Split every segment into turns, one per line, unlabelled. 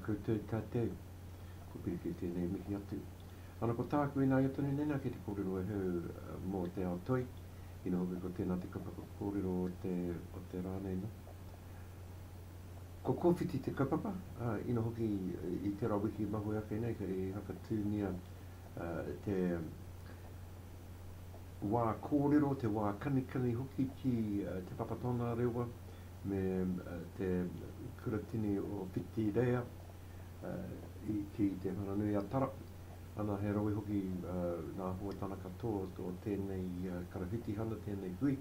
koutou tatou. Ko Piriki tēnei mihi atu. Ana ko tāku ināia tonu nena ki te kōrero e hau mō te ao toi. Ina hoki ko tēnā te kapa kōrero o te, o te rā nei no. Ko Kōwhiti te kapapa, uh, ina hoki i tērā wiki mahue ake nei kei hakatūnia uh, te wā kōrero, te wā kanikani hoki ki Te Papa Tongarewa me te kuratini o Whitireia ki Te Whanganui-a-Tara. Ana, he rawe hoki nā Hoa Tana katoa o tēnei karawhitihana, tēnei hui.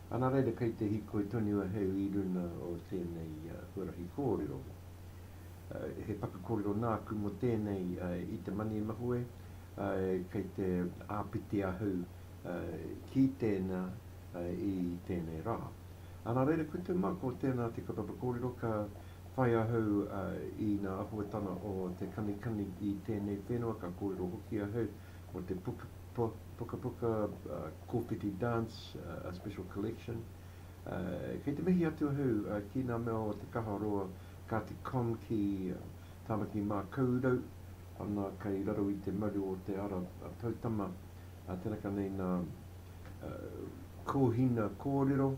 Ana, reira kei te hikoi tonu ahau i runa o tēnei huarahi kōrero. He paku kōrero nāku mō tēnei i te mani mahue, kei te āpiti ahau ki tēnā i tēnei rā. Ana reira ko te mā, ko tēnā te kaupapa kōrero ka whai ahau i ngā āhuatanga o te kanikani i tēnei whenua, ka kōrero hoki ahau mō te pukapuka Kōwhiti Dance, a special collection. Kei te mihi atu ahau ki ngā mea o Te Kaha Roa, Kāti Komki, Tāmaki Mākaurau, ana kei raro i te maru o te ara poutama, tērā ka nei ngā kōhina kōrero,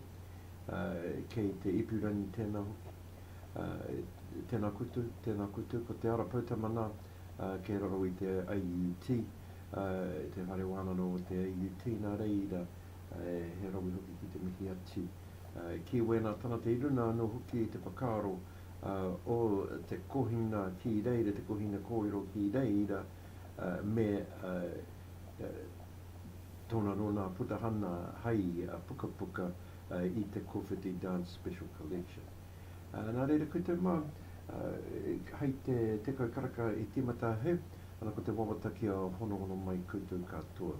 kei te ipurangi tēnā hoki, tēnā koutou, tēnā koutou, ko te ara poutama nā, kei raro i te AUT, te Whare Wānanga o te AUT, nā reira, he rawe hoki ki te mihi atu ki wēnā tangata i runga anō hoki i te whakaaro, o te kohinga ki reira, te kohinga kōrero ki reira me tōna rona putahana hai pukapuka i te Kōwhiti Dance Special Collection. Nā reira, ko te mā, hai te tekau karaka i tīmata he, ana ko te wawata kia honohono mai koutou katoa.